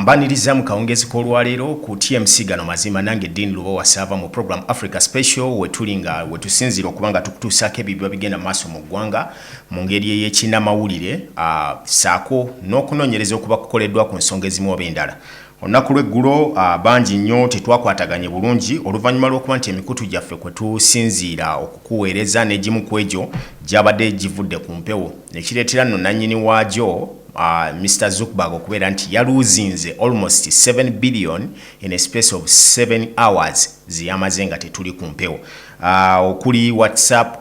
mbaniriza mu kawungezi k'olwaleero ku tmc gano mazima nange dean luba wasaava mu program africa special wetuli nga wetusinziira okuba nga tukutuusaako ebyo biba bigenda mu maaso mu ggwanga mu ngeri eyekinamawulire saako n'okunoonyereza okuba kukoleddwa ku nsonga ezimu oba endala Olunaku lw'eggulo bangi nnyo tetwakwataganye bulungi oluvannyuma lw'okuba nti emikutu gyaffe kwe tusinziira okukuweereza n'egimu ku egyo gyabadde givudde ku mpewo ne kireetera nno nannyini waagyo Mister Zuckerberg okubeera nti yaluuzinze almost seven billion in a space of seven hours ze yamaze nga tetuli ku mpewo okuli WhatsApp,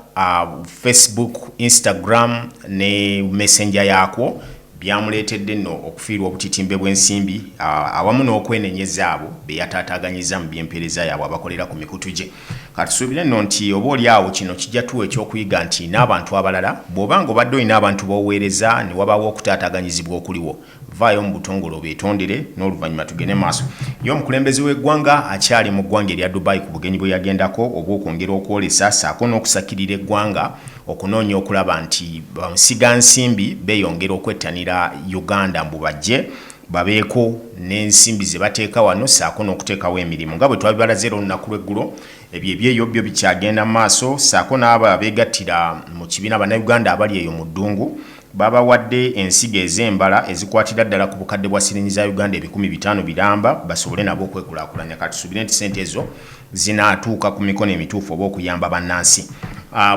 Facebook, Instagram ne messenger yaakwo byamuleetedde nno okufiirwa obutitimbe bw'ensimbi awamu n'okwenenyeza abo be yataataaganyizza mu by'empeereza yaabwe abakolera ku mikutu gye. Katusuubire nno nti oba oli awo kino kijja tuwa eky'okuyiga nti n'abantu abalala bw'oba nga obadde olina abantu b'oweereza ne wabaawo okutaataaganyizibwa okuliwo, vvaayo mu butongole obeetondere n'oluvannyuma tugende maaso. Ye omukulembeze w'eggwanga akyali mu ggwanga erya Dubai ku bugenyi bwe yagendako obw'okwongera okwolesa ssaako n'okusakirira eggwanga, okunoonya okulaba nti bamusiga nsimbi beyongera okwettanira Uganda mbu bajje babeeko n'ensimbi ze bateeka wano ssaako n'okuteekawo emirimu nga bwe twabibalaze era olunaku lw'eggulo ebyo ebyeyo byo bikyagenda mu maaso ssaako n'abo abeegattira mu kibiina Bannayuganda abali eyo mu ddungu Baabawadde ensigo ez'embala ezikwatira ddala ku bukadde bwa siringi za Uganda ebikumi bitaano biramba basobole nabo okwekulaakulanya. Ka tusuubire nti ssente ezo zinaatuuka ku mikono emituufu oba okuyamba bannansi.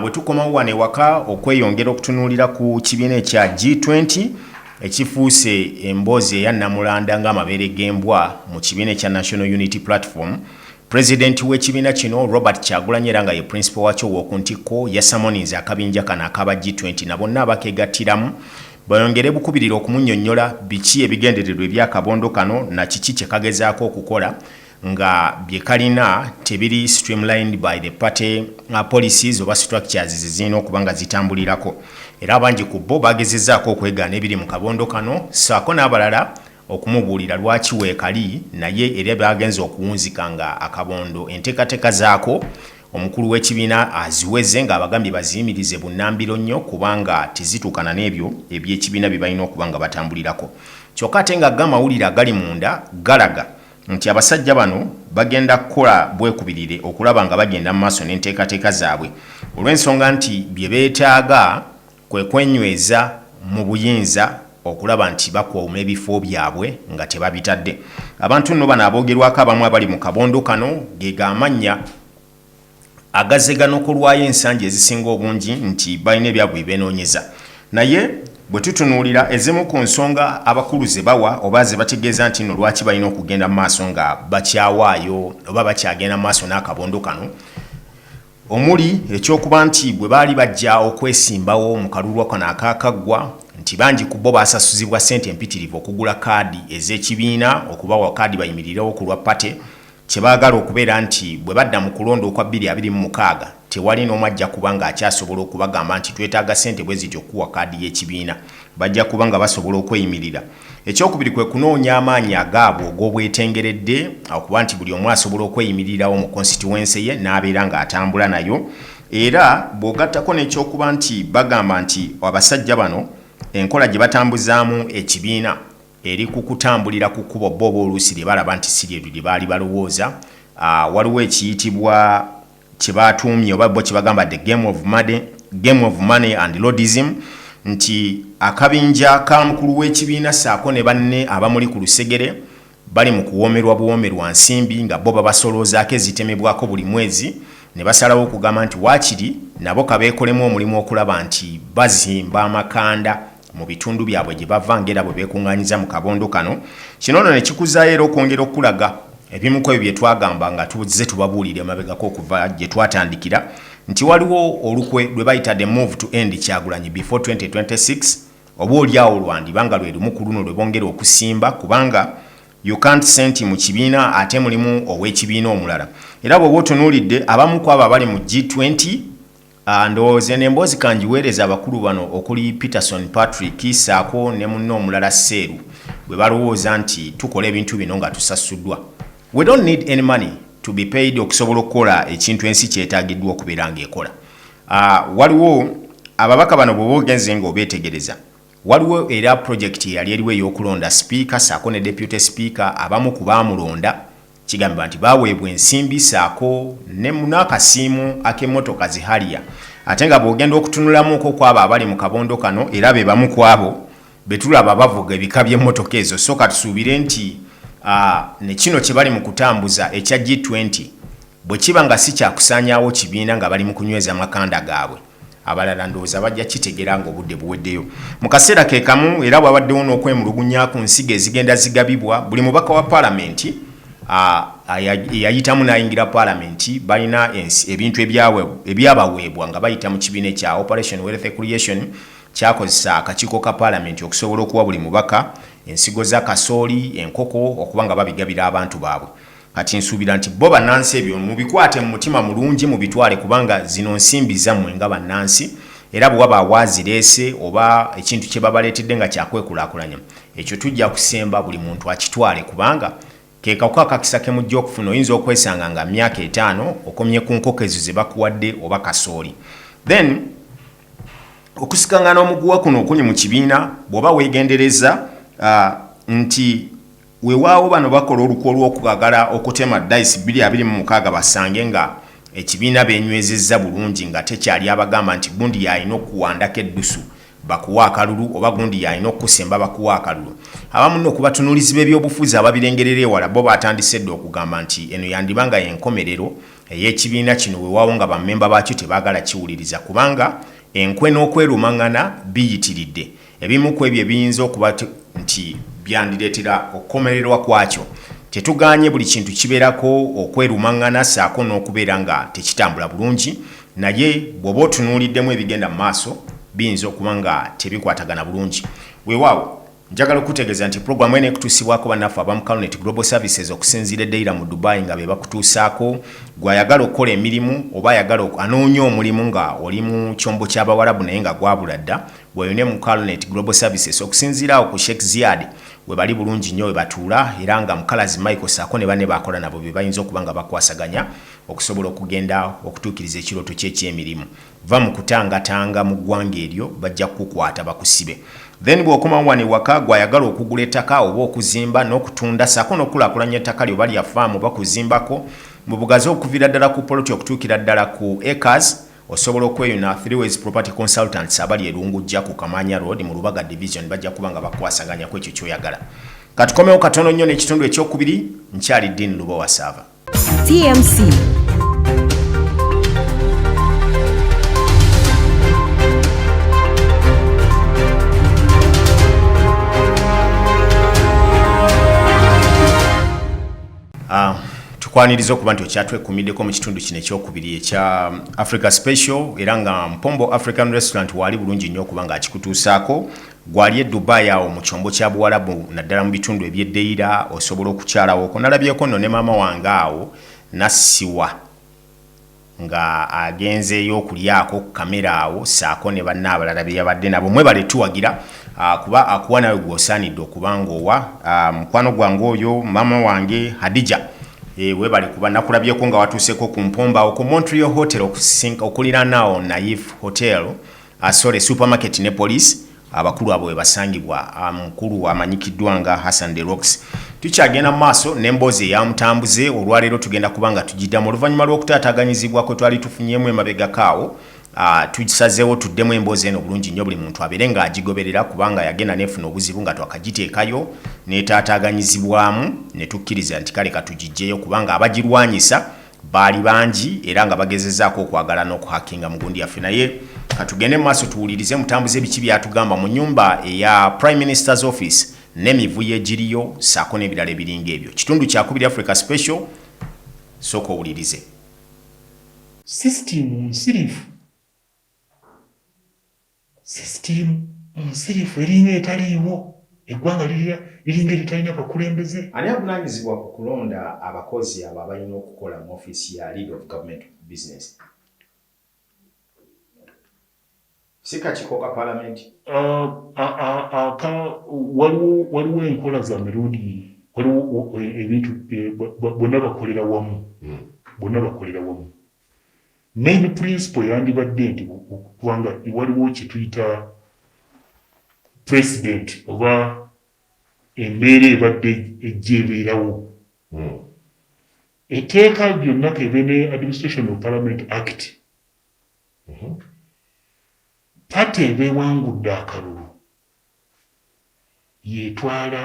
Bwe tukomawo wano ewaka okweyongera okutunuulira ku kibiina ekya G20 ekifuuse emboozi eya nnamulanda ng'amabeere g'embwa mu kibiina ekya National Unity Platform, President w'ekibiina kino Robert Kyagulanyi era nga ye principal wakyo ow'okuntikko yasamoninze akabinja kano akaba G20 na bonna abakegattiramu bayongere bukubirire okumunyonyola biki ebigendererwa eby'akabondo kano na kiki kye kagezaako okukola nga bye kalina tebiri streamlined by the party uh, policies oba structures ze zirina okuba nga zitambulirako era abangi ku bo bagezezaako okwegaana ebiri mu kabondo kano saako n'abalala okumubuulira lwaki weekali naye era baagenze okuwunzika nga akabondo enteekateeka zaako omukulu w'ekibiina aziweze ng'abagambye baziyimirize bunnambiro nnyo kubanga tezituukana n'ebyo eby'ekibiina bye balina okuba nga batambulirako kyokka ate nga g'amawulire agali munda galaga nti abasajja bano bagenda kukola bwekubirire okulaba nga bagenda mu maaso n'enteekateeka zaabwe olw'ensonga nti bye beetaaga kwe kwenyweza mu buyinza okulaba nti bakuuma ebifo byabwe nga tebabitadde abantu nno bano aboogerwako abamu abali mu kabondo kano ge g'amannya agazze ganokolwayo ensangi ezisinga obungi nti balina ebyabwe bye beenoonyeza naye Bwe tutunuulira ezimu ku nsonga abakulu ze bawa oba ze bategeeza nti nno lwaki balina okugenda mu maaso nga bakyawaayo oba bakyagenda mu maaso n'akabondo kano omuli eky'okuba nti bwe baali bajja okwesimbawo mu kalulu kano akaakaggwa nti bangi ku bo baasasuzibwa ssente mpitirivu okugula kaadi ez'ekibiina okubawa kaadi bayimirirewo ku lwa Party kye baagala okubeera nti bwe badda mu kulonda okwa bbiri abiri mu mukaaga tewali n'omu ajja kuba ng'akyasobola okubagamba nti twetaaga ssente bwe zityo okukuwa kaadi y'ekibiina bajja kuba nga basobola okweyimirira Ekyokubiri kwe kunoonya amaanyi agaabwe og'obwetengeredde okuba nti buli omu asobola okweyimirirawo mu konsitiwense ye n'abeera ng'atambula nayo era bw'ogattako n'ekyokuba nti bagamba nti abasajja bano enkola gye batambuzaamu ekibiina eri ku kutambulira ku kkubo bo oba oluusi lye balaba nti si lye baali balowooza, waliwo ekiyitibwa. kye baatuumye oba bo kye bagamba the game of money, game of money and lordism nti akabinja ka mukulu w'ekibiina ssaako ne banne abamuli ku lusegere bali mu kuwoomerwa buwoomerwa nsimbi nga bo babasoloozaako ezitemebwako buli mwezi ne basalawo okugamba nti waakiri nabo kabeekolemu omulimu okulaba nti bazimba amakanda mu bitundu byabwe gye bava ng'era bwe beekuŋŋaanyiza mu kabondo kano. Kino nno ne kikuzaayo era okwongera okukulaga ebimu ku ebyo bye twagamba nga tuzze tubabuulira emabegako okuva gye twatandikira nti waliwo olukwe lwe bayita the move to end Kyagulanyi before 2026 oba olyawo lwandiba nga lwe lumu ku luno lwe bongera okusimba kubanga you can't senti mu kibiina ate mulimu ow'ekibiina omulala era bw'oba otunuulidde abamu ku abo abali mu G20 Ah, ndowooza eno emboozi kangiweereze abakulu bano okuli Peterson Patrick saako ne munne omulala Seeru bwe balowooza nti tukola ebintu bino nga tusasuddwa. We don't need any money to be paid okusobola okukola ekintu ensi kyetaagiddwa okubeera ng'ekola. Ah, waliwo ababaka bano bw'oba ogenze ng'obeetegereza waliwo era pulojekiti eyali eriwo ey'okulonda sipiika saako ne deputy sipiika abamu ku baamulonda Kigambibwa nti baaweebwa ensimbi ssaako ne n'akasiimo ak'emmotoka zi Harrier ate nga bw'ogenda okutunulamuuko kw'abo abali mu kabondo kano era be bamu kw'abo be tulaba bavuga ebika by'emmotoka ezo so katusuubire nti ne kino kye bali mu kutambuza ekya G20 bwe kiba nga si kya kusaanyaawo kibiina nga bali mu kunyweza makanda gaabwe. Abalala ndowooza bajja kitegera nga obudde buweddeyo. Mu kaseera ke kamu era wabaddewo n'okwemulugunya ku nsigo ezigenda zigabibwa buli mubaka wa Palamenti eyayitamu n'ayingira Palamenti balina ebintu ebyabaweebwa nga bayita mu kibiina ekya Operation Wealth Creation kyakozesa akakiiko ka Palamenti okusobola okuwa buli mubaka ensigo za kasooli, enkoko okuba nga babigabira abantu baabwe. Kati nsuubira nti bo bannansi ebyo mubikwate mu mutima mulungi mubitwale kubanga zino nsimbi zammwe nga bannansi era bwe waba waazireese oba ekintu kye babaleetedde nga kyakwekulaakulanya ekyo tujja kusemba buli muntu akitwale kubanga ke kaku akakisa ke mujja okufuna oyinza okwesanga nga myaka etaano okomye ku nkoko ezo ze bakuwadde oba kasooli then okusikangana omuguwa kuno okuli mu kibiina bw'oba weegendereza uh, nti Wewaawo bano bakola olukwe olw'okubagala okutema dayisi bbiri abiri mu mukaaga basange nga ekibiina beenywezezza bulungi nga tekyali abagamba nti gundi y'alina okukuwandako eddusu bakuwe akalulu oba gundi y'alina okukusemba bakuwe akalulu. Abamu nno ku batunuulizi b'ebyobufuzi ababirengerera ewala bbo baatandise dda okugamba nti eno yandiba nga y'enkomerero ey'ekibiina kino wewaawo nga bammemba baakyo tebaagala kiwuliriza kubanga enkwe n'okwerumang'ana biyitiridde. Ebimu ku ebyo ebiyinza okuba nti byandireetera okukomererwa kwakyo, Tetugaanye buli kintu kibeerako okwerumaŋŋana ssaako n'okubeera nga tekitambula bulungi, naye bw'oba otunuuliddemu ebigenda mu maaso, biyinza okuba nga tebikwatagana bulungi. Weewaawo, njagala okukutegeeza nti programu eno ekutuusibwako bannaffe aba mu Calunet Global Services okusinziira e Deira mu Dubai nga be bakutuusaako gwe ayagala okukola emirimu oba ayagala anoonya omulimu nga oli mu kyombo ky'Abawarabu naye nga gwabula dda Bweyune mu Calnet Global Services okusinziira awo ku Sheikh Ziad webali bulungi nnyo webatuula era nga Mukalazi Michael saako ne banne baakola nabo bebayinza okuba nga bakwasaganya okusobola okugenda okutuukiriza ekirooto kyo eky'emirimu. Vva mu kutangatanga mu ggwanga eryo bajja kukukwata bakusibe. Then bw'okomawo wano ewaka gwe ayagala okugula ettaka oba okuzimba n'okutunda saako n'okukulaakulanya ettaka lyo oba lya faamu oba kuzimbako mu bugazi okuviira ddala ku poloti okutuukira ddala ku acres, Osobola okweyuna Threeways Property Consultants abali e Lungujja ku Kamaanya Road mu Lubaga Division bajja kuba nga bakwasaganya ku ekyo ky'oyagala. Katukomewo katono nnyo n'ekitundu ekyokubiri, nkyali Dean Lubowa Saava. TMC. Ah, tukwaniriza okuba nti okyatwekumiddeko mu kitundu kino ekyokubiri ekya africa special era nga mpombo african restaurant waali bulungi nnyo okuba nga akikutuusaako gwali e dubai awo mu kyombo kya buwalabu naddala mu bitundu ebyedeyira osobola okukyalawo okonalabyeko nno ne maama wange awo nassiwa nga agenzeeyo okulyaako ku kamera awo saako ne banne abalala beyabadde nabo mwebale tuwagira ah, kuba akuwa nawe gwosaanidde okuba nga owa ah, mukwano gwange oyo mama wange hadija eh, webale kuba nakulabyeko nga watuuseeko ku mpomba awo ku montreal hotel okuliranaawo naif hotel Asole Supermarket ne Police abakulu abo webasangibwa. Mukulu amanyikiddwa nga Hassan De Rocks. Tukyagenda mu maaso n'emboozi eya Mutambuze. Olwaleero tugenda kuba nga tugidamu oluvannyuma lw'okutaataganyizibwa kwetwali tufunyeemu emabegako awo. Tusazeewo tuddemu emboozi eno bulungi nnyo buli muntu abeere nga agigoberera kubanga yagenda nefuna obuzibu nga twakagiteekayo netaataaganyizibwamu netukkiriza nti kale katugijjeyo kubanga abagirwanyisa Baali bangi era nga bagezezaako okwagala n'okuhakinga mu gundi yaffe naye katugende mu maaso tuwulirize mutambuze biki byatugamba mu nyumba eya Prime Minister's Office n'emivuyo egiriyo saako n'ebirala ebiringa ebyo. Kitundu kyakubiri Africa Special sooka owulirize. System nsirifu System nsirifu eringa etaliiwo, eggwanga liringa eritalina bakulembeze. Ani avunaanyizibwa ku kulonda abakozi abo abalina okukola mu ofiisi ya Lead of Government Business? Si kakiiko ka Palamenti? Waliwo enkola za mirundi, waliwo ebintu bonna bakolera wamu, bonna bakolera wamu. Main principle yandibadde nti kubanga waliwo kyetuyita president oba embeera ebadde ejja ebeerawo hmm. etteeka lyonna kebe ne administration of parliament act hmm. pate ebewangudde akalulu yetwala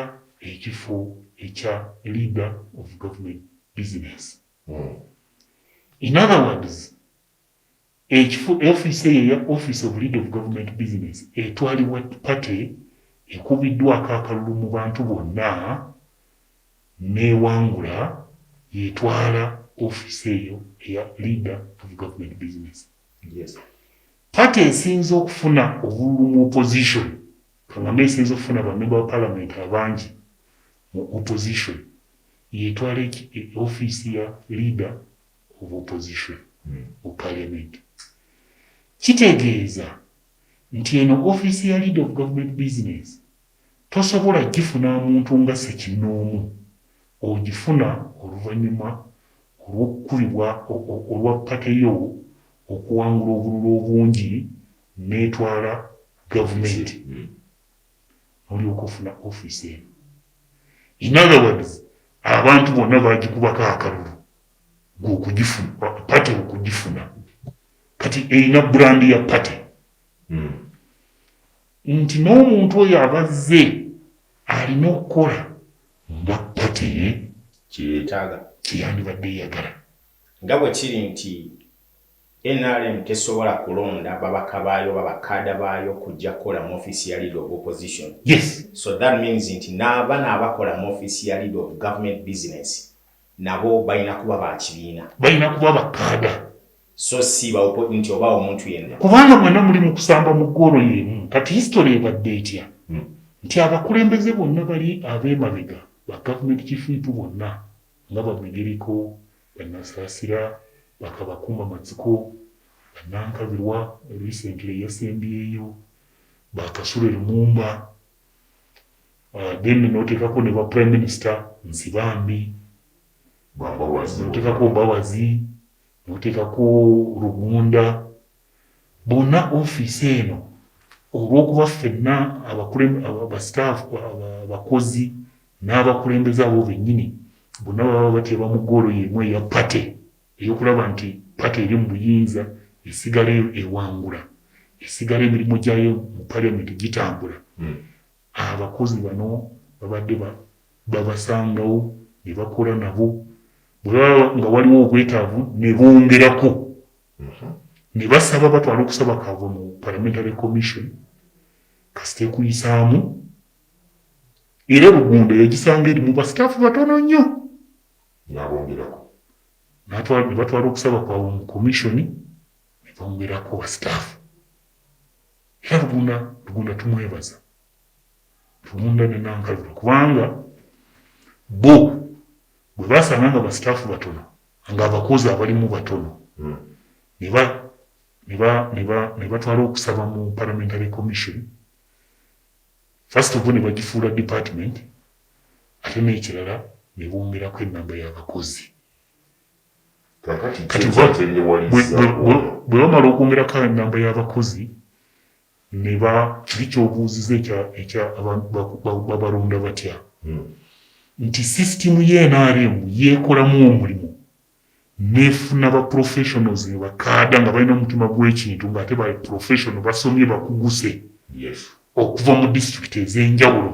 ekifo ekya leader of government business In other words, ekifo office eyo ya office of lead of government business etwalibwa party ekubiddwako akalulu mu bantu bonna newangula yetwala office eyo eya leader of government business. Yes. Party esinze okufuna obululu mu opposition kangame esinze okufuna bamemba ba parliament abangi mu opposition Yetwala eki e office ya leader of opposition mu parliament. Kitegeeza nti eno office ya leader of government business tosobola gifuna muntu nga sekinnoomu, ogifuna oluvanyuma olwokukubibwa o o olwa party yo okuwangula obululu obungi netwala government nolyoka ofuna office eno in other words abantu bonna bagikubako akalulu gwe okugifuna party okugifuna kati erina brand ya party hmm. nti n'omuntu oyo abazze alina okukola nga party ye kyeyetaaga kyeyandibadde eyagala nga bwe kiri nti Nrm tesobola kulonda babaka baayo oba ba kaada baayo kujja kukola mu offiisi ya leader of opposition. Yes. So that means nti n'abana abakola mu offiisi ya leader of government business nabo balina kuba ba kibiina. Balina kuba ba kaada. So si ba nti oba omuntu yenna. Kubanga mwena muli mu kusamba mu goolo y'emu. Kati history ebadde etya? Hmm. Nti abakulembeze bonna bali ab'emabega ba government chief whip bonna nga Bamigereko, Bannasaasira bakabakuuma matsiko, Bannankabirwa recently eyasembyeyo, ba Kasule Lumumba then noteekako ne ba Prime Minister Nsibambi, noteekako Mbabazi, noteekako Rugunda, Bonna ofiisi eno olw'okuba ffenna basitaafu, abakozi n'abakulembeze abo bennyini bonna baba bateeba mu ggoolo y'emu eya pate ey'okulaba nti pate eri mu buyinza esigala ewangula, esigala emirimu gyayo mu Parliament gitambula, abakozi bano babadde babasangawo ne bakola nabo bwe baba nga waliwo obwetaavu ne bongerako. ne basaba batwale okusaba kwabwe mu Parliamentary Commission kasita ekuyisaamu era Rugunda yagisanga erimu basitaafu batono nnyo n'abongerako ne batwala okusaba kwabwe mu komishoni ne bongerako basitaafu era Rugunda Rugunda tumwebaza Rugunda ne Nankalula kubanga bo bwe basanga nga basitaafu batono nga abakozi abalimu batono nebatwala okusaba mu parliamentary commission first of all nebagifuula department ate nekirala nebongerako enamba yabakozi kati bwebamala okwongerako enamba yabakozi Ne ba, kiri ky'obuuzizza ekya, ekya aba, ba, babalonda batya, nti system ya nrm yeekolamu omulimu n'efuna ba professionals ne bakaada nga balina omutima gw'ekintu ng'ate ba professional, basomye, bakuguse okuva mu district ez'enjawulo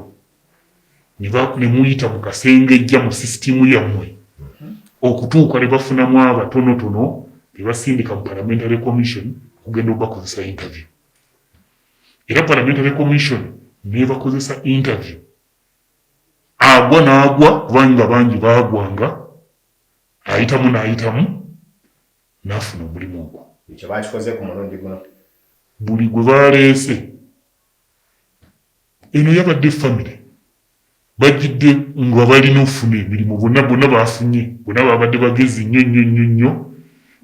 ne muyita mu kasengejja mu sisitiimu yammwe okutuuka ne bafunamu abatonotono be basindika mu Parliamentary Commission okugenda okubakozesa interview. Era Parliamentary Commission n'ebakozesa interview agwa n'agwa kubanga bangi baagwanga ayitamu n'ayitamu n'afuna omulimu ogwo. Ekyo baakikoze ku mulundi guno. Buli gwe baleese Eno yabadde famire bajjidde nga balina okufuna emirimu bonna bonna baafunye bonna baabadde bagezi nnyo nnyo nnyo nnyo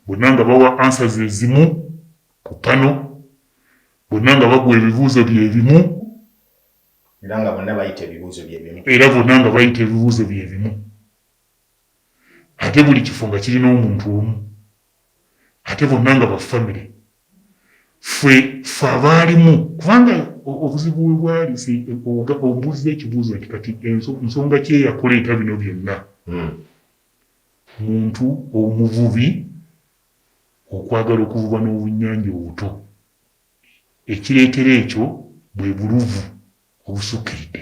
bonna nga bawa ansa ze zimu ku pano bonna nga bagwa ebibuuzo bye bimu era nga bonna bayita ebibuuzo bye bimu era bonna nga bayita ebibuuzo bye bimu ate buli kifo nga kirina omuntu omu. ate bonna nga ba famire ffe ffe abaalimu kubanga obuzibu we bwali obuuza ekibuuzo nti kati nsonga kyeyakuleeta bino byonna hmm. muntu omuvubi okwagala okuvuba n'obunyanja obuto ekireetera ekyo bwe buluvu obusukkiridde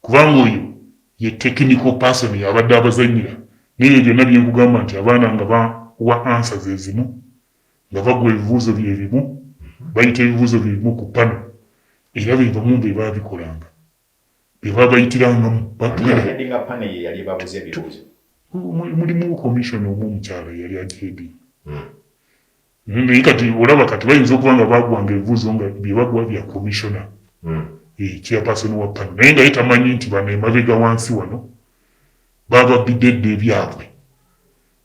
kubanga oyo ye technical person yabadde abazanyira nebyo byonna byenkugamba nti abaana nga bawa answer zezimu nga bagwa ebibuuzo byebimu bayita ebibuuzo byebimu ku panel era bebamu bebabikolanga bebabayitirangamu mulimu commission omu omukyala yali ajeedi hmm. naye kati olaba kati bayinza okuba nga bagwanga ebibuuzo nga byebaguwa bya komishona hmm. eh, chairperson wa pani naye nga ye tamanyi nti bano emabega wansi wano bababbidde edda ebyabwe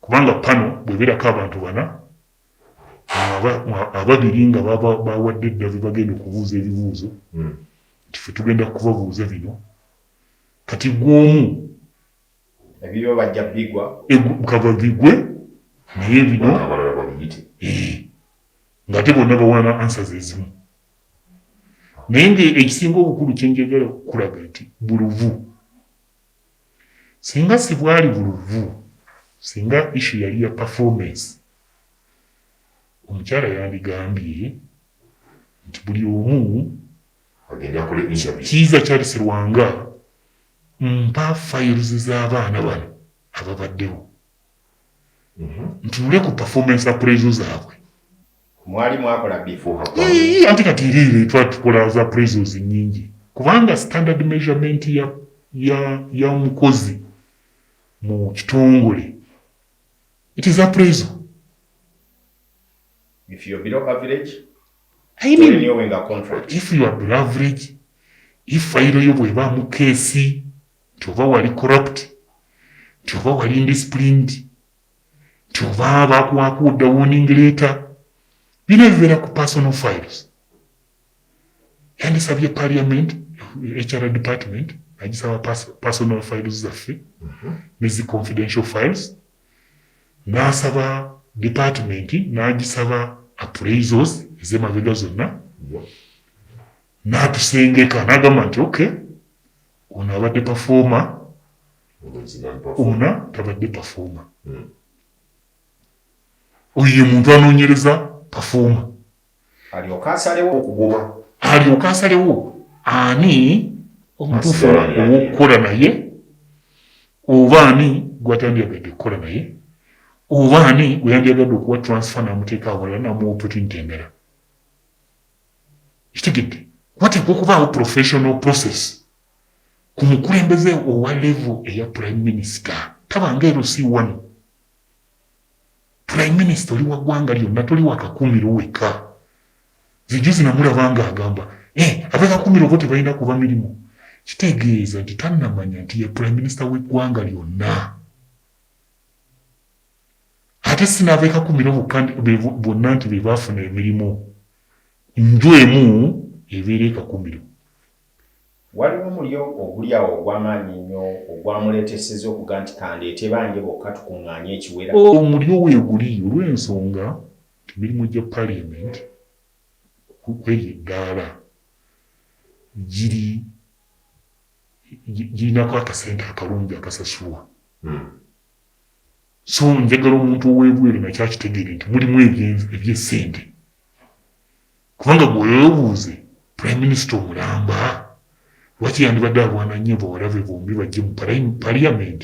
kubanga pano bweberako abantu bana ababiri nga bawadde edda bebagenda okubuuza ebibuuzo hmm. nti fe tugenda kubabuuza bino kati gwomu Ebibyo bajja bigwa. Egu, kava bigwe naye bino abalala babiyite eh, ngate bonna bawa na ansa zezimu naye nga ekisinga obukulu kyenjagala kukulaga nti buluvu singa sibwali buluvu singa ishu yali ya performance omukyala yandigambye nti buli omu kiiza charles rwanga Mpa files z'abaana bano ababaddewo ntunule ku performance appraisal zaabwe. Mwali mwakola before hapa? Yii, ate kati iriire twatukola za appraisals nyingi kubanga standard measurement ya, ya, ya mukozi mu kitongole it is appraisal. If you're below average. I mean, renewing a contract. if you are below average if fayiro yo bwebaamu keesi nti oba wali corrupt nti oba wali indisciplined nti oba bakuwaako odda warning letter bino ebibeera ku personal files yandisabye parliament hr department nagisaba pers- personal files zaffe nezi confidential files n'asaba department n'agisaba appraisals ez'emabega zonna n'atusengeka n'agamba nti ok ono abadde pafooma ona tabadde pafooma hmm. oyo ye muntu anoonyereza pafooma alyoke asalewo okugobwa alyoke asalewo ani omutuufu ow'okukola naye oba ani gwatandyagadde okukola naye oba ani gweyandyagadde okuwa transfer namuteeka awalala namuwopeti ntendera kitegedde wateekwa okubaawo professional process ku mukulembeze owa levo eya prime minister tabanga erosi wano Prime minister oli wagwanga lyonna toli wakakumiro weka zijuzi namulaba nga agamba eh, abekakumiro bo tebalina kuba mirimu kitegeeza nti tanamanya nti ye prime minister wegwanga lyonna ate sinabekakumiro bonna nti bebafuna emirimu nju emu ebeera ekakumiro Waliwo omulyo oguli awo ogw'amaanyi ennyo ogwamuleeteseza okuga nti, Ka ndeete bange bokka tukuŋŋaanye ekiwera. Omulyo weeguli olw'ensonga nti emirimu gya Parliament kw'eryo eddaala giri girinako akasente akalungi akasasulwa so njagala omuntu ow'ebweru nakyo akitegeere nti mulimu eby'essente. Kubanga gwe webuuze prime minister omulamba lwaki yandibadde alwana nnyo bawalabe bombi bajje mu parliament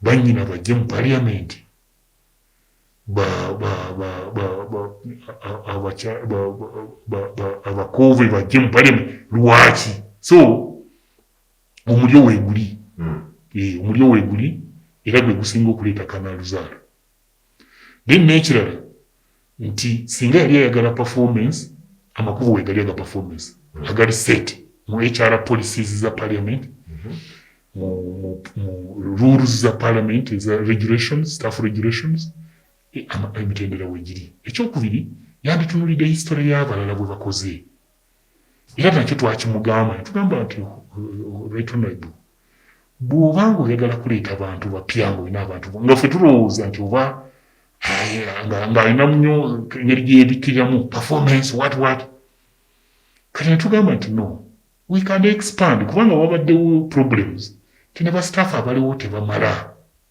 banyina bajje mu parliament abakoove bajje mu parliament lwaki so omulyo weguli hmm. eh, omulyo weguli era gwe gusinga okuleeta kanaluzaalo then n'ekirala nti singa yali ayagala performance amakubo wegali aga performance mm-hmm. agali set mu hr policies za parliament mm-hmm. mu rules za parliament eza regulations staff regulations e, emitendera wegiri ekyokubiri yanditunulidde history y'abalala bwe bakoze Era nakyo twakimugamba netugamba nti right honorable bwoba nga oyagala kuleeta bantu bapya nga olina abantu nga ffe tulowooza nti oba ng'alinamu nyo engeri gyeyebikkiriramu performance wat wat kati netugamba nti no we can expand kubanga wabaddewo problems ti ne basitaafu abaliwo tebamala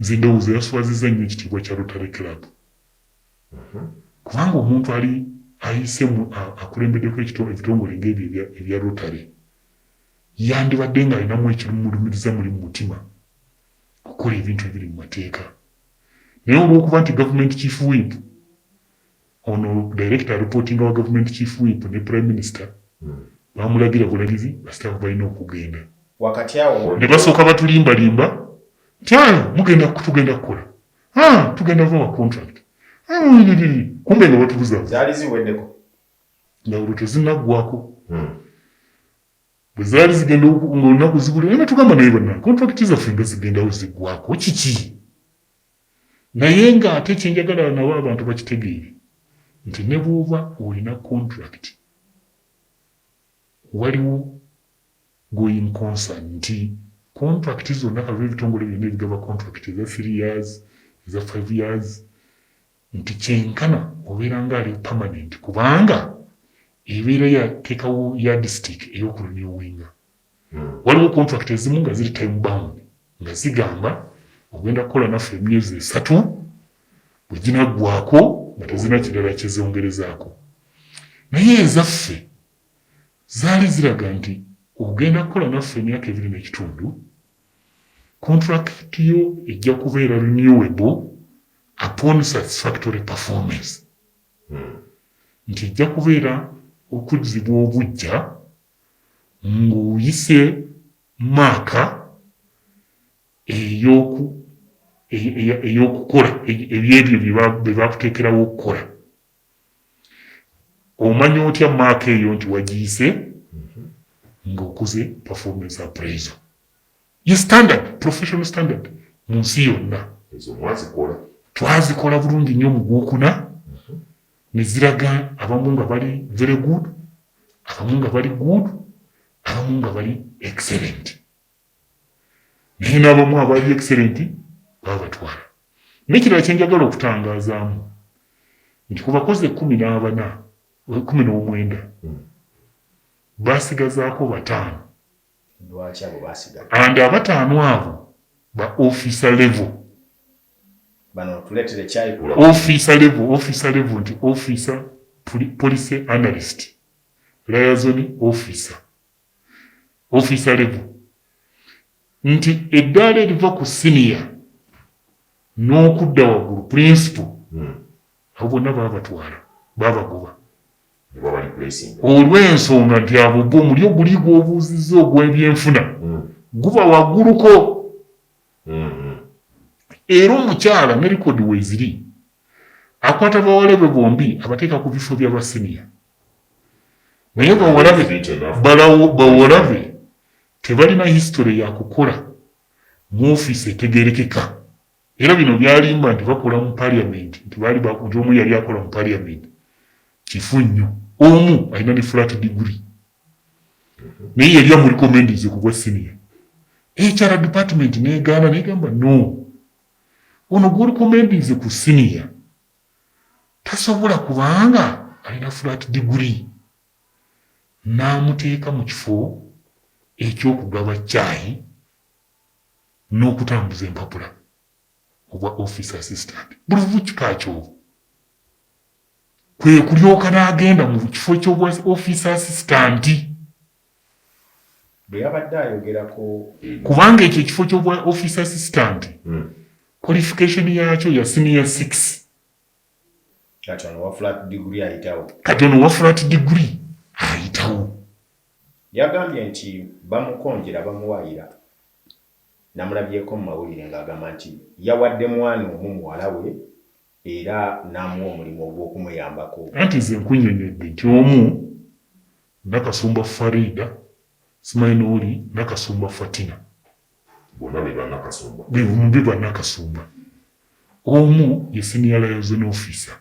Nze ndowooza yaswaziza nnyo ekitiibwa kya Rotary Club kubanga omuntu ali ayise mu akulembeddeko ebitongole ng'ebyo ebya Rotary yandibadde ng'alinamu ekimulumiriza muli mu mutima okukola ebintu ebiri mu mateeka naye olw'okuba nti gavumenti kifuwimpu Ono director reportinga wa government chief whip ne prime minister bamulagira bulagizi ba staff balina okugenda Wakati awo mu ne basooka batulimba limba nti haa mugenda tugenda kukola haa tugenda bawa contract uuiririri kumbe nga batubuzabuza. Zaali ziweddeko. Njawulo tezinaggwako. Bwe zaali zigenda oku nga olunaku zibula ne batugamba naye bannange contract zaffe nga zigendawo ziggwako kiki? Naye nga ate kyenjagala nabo abantu bakitegeere nti nebwoba olina contract waliwo going concern nti contract zonna kave ebitongole byonna ebigaba contract eza three years eza five years nti kyenkana obeera nga ali permanent kubanga ebeera yatekawo yardstick eyokurenewinga Waliwo contract ezimu nga ziri time bound nga zigamba ogenda kukola naffe emyezi esatu bwe ginaggwaako nga tezirina kirala kye zongerezaako naye ezaffe zaali ziraga nti ogenda kukola naffe emyaka ebiri n'ekitundu kontulakiti yo ejja kubeera renewable upon satisfactory performance hmm. nti ejja kubeera okuzzibwa obujja ng'oyise maaka ey'oku ey'okukola ebyebyo bye bakuteekerawo okukola omanya otya maaka eyo nti wagiyise mhm. ng'okoze performance appraisal ye standard professional standard mu nsi yonna twazikola bulungi nnyo mu gwokuna neziraga abamu nga bali very good abamu nga bali good abamu nga bali excellent naye n'abamu abali excellent baba batwala nekirala kyenjagala okutangazaamu nti ku bakozi ekumi n'abana ekumi n'omwenda hmm. basigazaako bataano and abataano abo ba officer level Officer level, officer level nti officer policy analyst liaison officer officer level nti eddaala eriva ku siniya n'okudda waggulu principal hmm. abo bonna baabatwala baabagoba olw'ensonga nti abo gwo omuli oguli gw'obuuzizza ogw'ebyenfuna hmm. guba wagguluko Era omukyala ne likodi weeziri, akwata bawala be bombi abateeka ku bifo bya ba siniya. Naye bawala be bawala be tebalina history ya kukola mu ofiisi etegeerekeka. Era bino by'alimba nti bakola mu parliament, nti baali ba, nti omu yali akola mu parliament, kifu nnyo. Omu alina ne flat degree. naye yali amuliko mendize ku bwa siniya ekyala dipatimenti negaana negamba no ono gwoli komendize ku siniya tasobola kubanga alina flat diguri n'amuteeka mu kifo eky'okugaba caayi n'okutambuza empapula obwa office assistant buli vukikaakyobo kwe kulyoka n'agenda mu kifo ky'obwa ofiisa asisitanti bwe yabadde ayogerako kubanga ekyo ekifo ky'obwa ofiisa asisitanti hmm. qualification yaakyo ya siniya six kati ono wa flat degree ayitawo kati ono wa flat degree ayitawo yagambye nti bamukonjera bamuwaayira namulabyeko mu mawulire ng'agamba nti yawadde mwana omu muwala we Era n'amuwa omulimu ogw'okumuyambako. Anti nze nkunnyonnyodde nti omu, Nakasumba Faridah, simanyi n'oli Nakasumba Fatina. Bonna be Bannakasumba. Be bumu, be Bannakasumba. Omu ye Senior Liaison Officer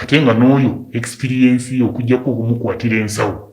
ate nga n'oyo ekisipiriyensi ye okuggyako okumukwatira ensawo.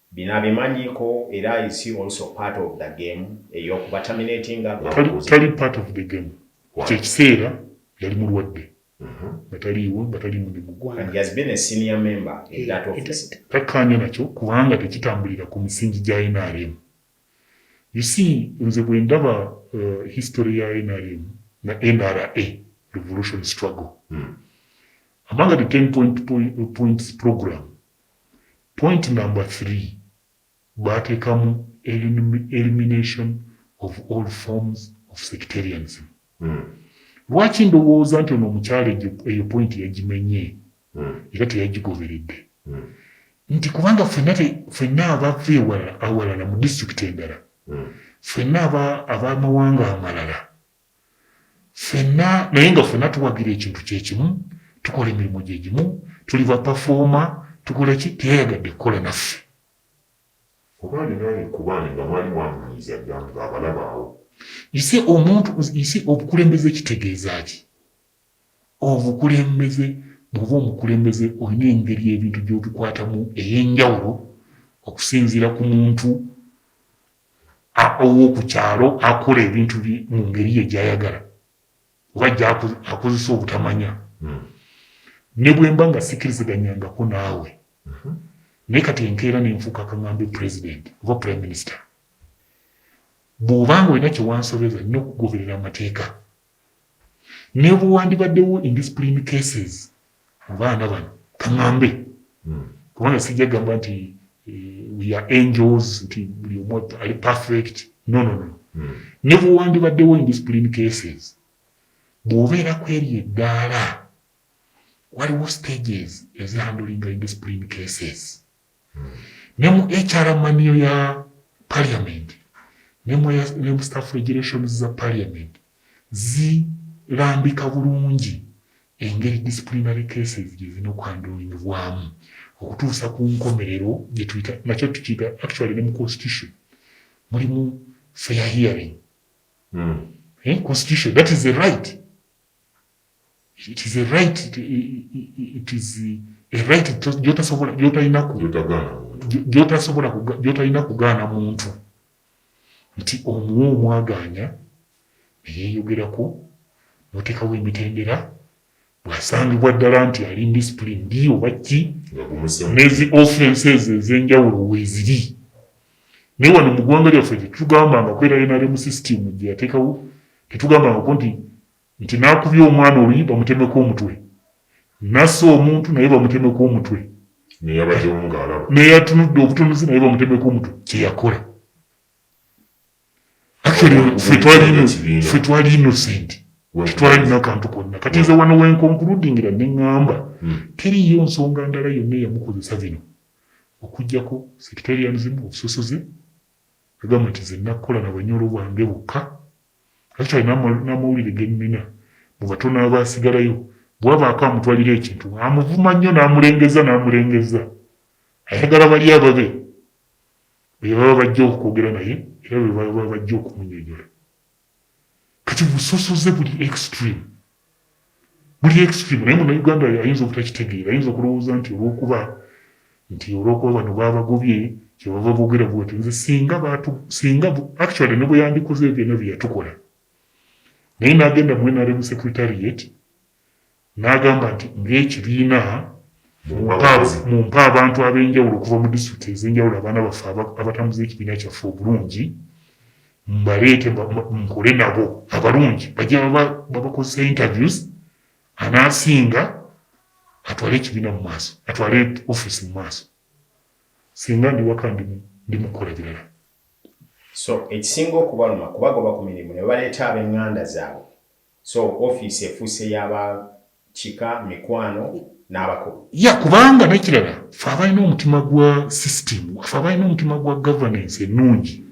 Bino abimanyiko era is he also part of the game eyokuba terminatinga nga Tali, mubuuzi tali part of the game. Why? Ekyo ekiseera yali mulwadde Mhm. nga taliiwo nga tali mu ne mu and he ggwanga. has been a senior member in that Eh, office. ita- Takkaanya nakyo kubanga tekitambulira ku misingi gya nrm. You see, nze bwe ndaba uh, history ya nrm na NRA, revolution struggle, Mm. among the 10 point, point, points program Point number three baatekamu elimination of all forms of sectarianism. Lwaki ndowooza nti ono omukyala ejo eyo point yajimenye era teyajigoberedde nti kubanga fenna te fenna abava ewala awalala mu district endala fenna aba abamawanga amalala ffenna naye nga ffenna tuwagira ekintu kyekimu tukola emirimu gyegimu tuli bapafooma tukolaki teyayagadde kukola naffe oba alinayo ekkubaane nga mwali mwamunyiiza dda nga abalaba awo ise omuntu ise obukulembeze kitegeeza ki obukulembeze bwoba omukulembeze olina engeri ebintu gyobikwatamu eyenjawulo okusinziira ku muntu ow'oku kyalo akola ebintu bye mu ngeri ye gy'ayagala oba gy'akozesa obutamanya hmm. ne bwe mba nga sikkiriziganyangako naawe mhm. naye kati enkeera ne nfuuka kaŋambe pulezidenti oba purime minisita bw'oba nga olina kye wansobeza nnyo okugoberera amateeka Nebwewandibaddewo indiscipline cases mu baana bano kangambe hmm. kubanga sijja gamba nti eh, we are angels nti buli omu ali perfect no no no hmm. nebwewandibaddewo indiscipline cases bwobeera kweri eddaala waliwo stages ezihandulinga indiscipline cases ne mu HR maniyo ya parliament ne mu, ne mu staff regulations za parliament zilambika bulungi engeri disciplinary cases gye zirina okwandulinyibwamu okutuusa ku nkomerero gye tuyita nakyo tukiyita actually ne mu constitution mulimu fair hearing mm. eh, constitution that is a right it is a right it, it is a right gyotasobola gyotalina ku gyotasobola gyotalina kugaana muntu nti omuwa omwagaanya neyeyogerako notekawo emitendera bwasangibwa ddala nti ali discipline ndi oba ki nezi offenses ezenjawulo weziri naye wano mu ggwanga lyaffe tetugambanga kwera nrm system gyeyatekawo tetugambangako nti Nti nakubye omwana oluyi bamutemeko omutwe nase omuntu naye bamutemeko omutwe neyabadewo nga alaba neyatunudde obutunuzi naye bamutemeko omutwe kyeyakola actually ffe twali ffe twali innocent tetwalina kantu konna kati nze wano wenkonkuludingira neŋŋamba hmm. teriyo nsonga ndala yonna eyamukozesa bino okujjako sectarianism obusosoze Yagamba nti, Nze nnakola na Banyoro bange bokka. Actually n'ama, n'amawulire ge nnina, mu batono abaasigalayo, bwe wabaako amutwalira ekintu, amuvuma nnyo n'amulengezza n'amulengezza. Ayagala bali ababe be baba bajja okwogera naye era be baba bajja okumunyonyola. Kati busosoze buli extreme. Buli extreme naye muna Uganda ayinza obutakitegeera ayinza okulowooza nti olwokuba nti olwokuba bano babagobye kyebava bogera bwati nze singa batu singa actually ne bweyandikoze byonna byeyatukola naye nagenda mu NRM secretariat N'agamba nti ng'ekibiina, mumpe abantu ab'enjawulo okuva mu disitulikiti ez'enjawulo abaana baffe abatambuza ekibiina kyaffe obulungi mbaleete nkole nabo abalungi bajja babakozesa interviews anaasinga atwale ekibiina mu maaso atwale ofiisi mu maaso singa ndi waka ndi mu kukola birala so ekisinga okubaluma kubagoba ku mirimu ne baleeta ab'eŋŋanda zaabwe So office efuuse ya ba kika, mikwano n'abakulu. Yeah kubanga nekirala ffe abalina omutima gwa system, ffe abalina omutima gwa governance ennungi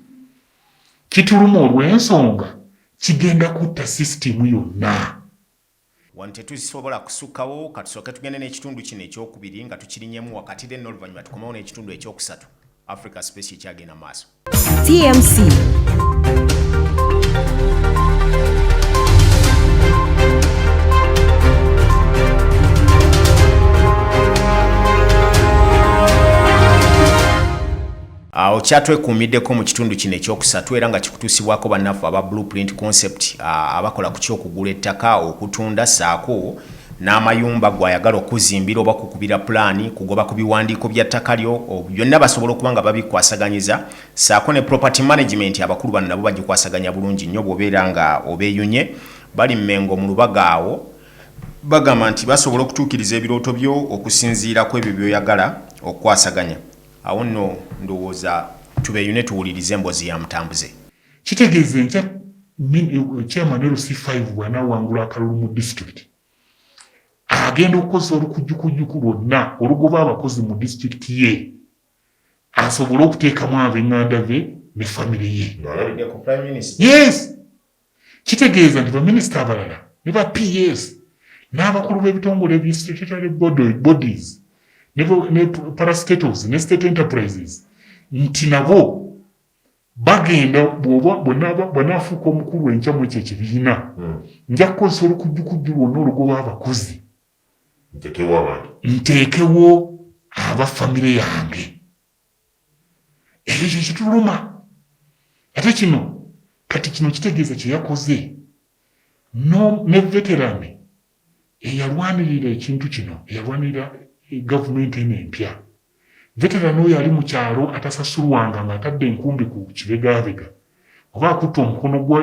kituluma olwensonga kigenda kutta system yonna. Wano tetusobola kusukkawo, katusooke tugende n'ekitundu kino ekyokubiri nga tukirinyemu wakati then n'oluvannyuma tukomewo n'ekitundu ekyokusatu, Africa Space ekyagenda mu maaso. TMC. awo kyatwekuumiddeko mu kitundu kino ekyokusatu era nga kikutuusibwako bannaffe aba blueprint concept abakola ku kyokugula ettaka okutunda saako n'amayumba gw'ayagala okukuzimbira oba kukubira pulaani, kugoba ku biwandiiko bya ttaka lyo, byonna basobola okuba nga babikwasaganyiza ssaako ne property management abakulu bano nabo bagikwasaganya bulungi nnyo bw'obeera nga obeeyunye. Bali Mmengo mu Lubaga awo bagamba nti basobola okutuukiriza ebirooto byo okusinziira ku ebyo by'oyagala okukwasaganya. Awo nno ndowooza tubeeyune tuwulirize emboozi ya Mutambuze. Kitegeeza enkya chairman LC five bw'anaawangula akalulu mu disitulikiti agenda okukozesa olukujjukujjuku lwonna olugoba abakozi mu disitulikiti ye asobole okuteekamu ab'enganda be ne famire ye yes kitegeeza nti baminisita abalala ne ba ps n'abakulu b'ebitongole by statutory bodies ne parastatoes ne state enterprises nti nabo Bagenda bwoba bw'onaaba bw'anaafuuka omukulu enkya mu ekyo ekibiina, nja kukozesa olukujjukujju lwonna olugoba abakozi, Ntekewo abantu. nteekewo aba famire yange. Ekyo kye kituluma. Ate kino, kati kino kitegeeza kye yakoze n'o, ne veteran eyalwanirira ekintu kino, eyalwanirira gavumenti eno empya, veteran oyo ali mu kyalo atasasulwanga ng'atadde enkumbi ku kibegabega oba akutte omukono gwe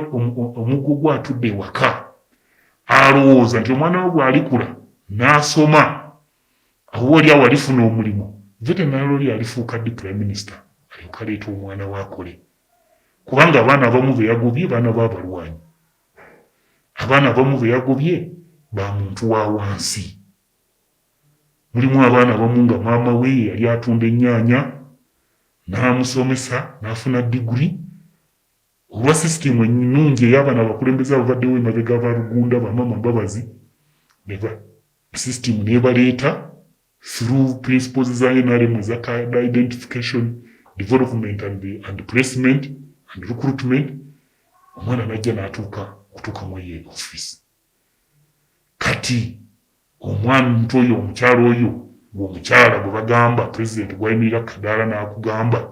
omuggo gwe atudde ewaka alowooza nti omwana we bw'alikula n'asoma oba oli awo alifuna omulimu veteran oli alifuuka ddi prime minister alyoka aleeta omwana we akole kubanga abaana abamu be yagobye baana be abalwanyi Abaana abamu be yagobye ba muntu wa wansi. Mulimu abaana abamu nga maama we ye yali atunda ennyaanya n'amusomesa n'afuna diguli. Olwa sisitiimu ennungi eya bano abakulembeze ababaddewo emabega ba Rugunda, ba maama Mbabazi, sisitiimu n'ebaleeta. through principles za NRM eza cadre identification, development and, and placement and recruitment omwana najja natuuka kutuuka mu eyo office kati omwana omuntu oyo omukyala oyo gweomukyala gwe bagamba president gwayimirira kadaala nakugamba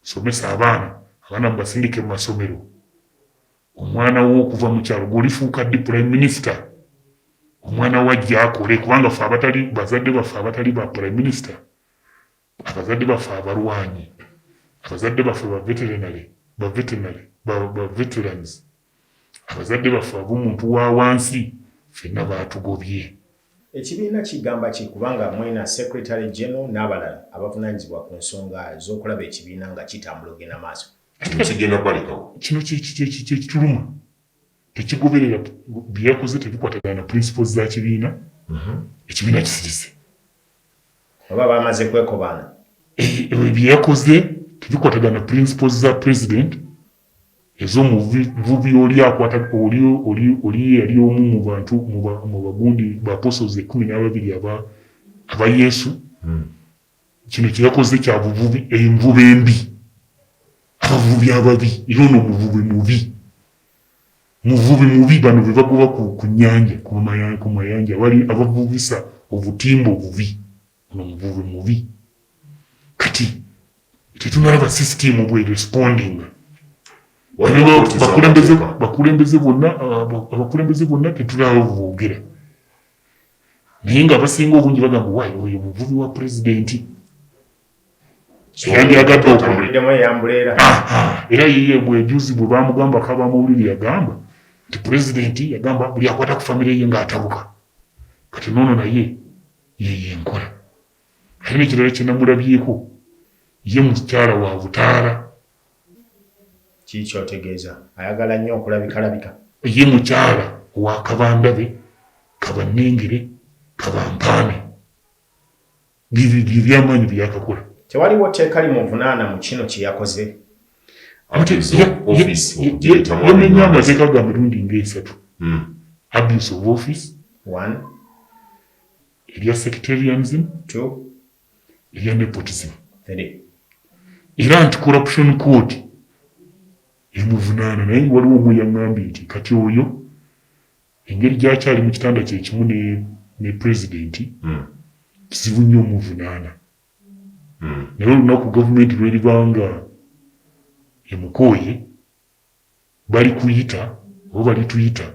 somesa abaana abaana mubasindike mu masomero Omwana wo okuva mu kyalo gwe olifuuka ddi Prime Minister? Omwana wo ajja akole kubanga ffe abatali bazadde baffe abatali ba Prime Minister, abazadde baffe abalwanyi, abazadde baffe ba veterinary, ba veterinary, ba, ba veterans, abazadde baffe ab'omuntu wa wansi fenna baatugobye. Ekibiina kigamba ki kubanga mwena Secretary General n'abalala abavunanyizibwa ku nsonga z'okulaba ekibiina nga kitambula ogenda maaso? kino kigenda balekawo kino kyekituluma tekigoberera byeyakoze tebikwatagana na principles za kibiina mhm. ekibiina kisirise oba bamaze kwekobana eh, byeyakoze tebikwatagana na principles za president ezomuvubi oli akwata oli yali omu mu bantu mu bagundi ba apostles ekumi n'ababiri aba yesu hmm. Kino kye yakoze kya buvubi, envuba embi, abavubi ababi era ono muvubi mubi. Muvubi mubi, bano be bagoba ku, ku nnyanja, ku maya- ku mayanja, bali abavubisa obutimba obubi. Ono muvubi mubi. Kati tetunalaba sisitiimu bw'erespondinga. Waliwo Bano kkooti bakulembeze, z'amateeka. bakulembeze bonna, abo- abakulembeze bonna tetunalaba bwe boogera. naye nga abasinga obungi bagamba wayi oyo muvubi wa pulezidenti eyandyagadde okulera era yiye bwejuzi bwe bamugamba kaba mawulire yagamba nti pulezidenti yagamba buli akwata ku famire ye ngaatabuka kati noono naye yeyo enkola ate nekirala kyenamulabyeko ye mukyala wa butaala Kiki kyotegeeza? Ayagala nnyo okulabikalabika. Ye mukyala wa kabandabe, kabannengere, kabampaane. Bye by'amaanyi bye yakakola. Tewaliwo tteeka limuvunaana mu kino kye yakoze. Yamenye amateeka ga mirundi ng'esatu. Hmm. Abuse of office. One. Erya sectarianism. Two. erya nepotism era nti corruption court emuvunaana naye waliwo omu yaŋambye nti kati oyo engeri gyakyali mu kitanda kyekimu ne, ne pulezidenti hmm. kizibu nnyo omuvunaana hmm. naye olunaku gavumenti lweribanga emukooye balikuyita oba balituyita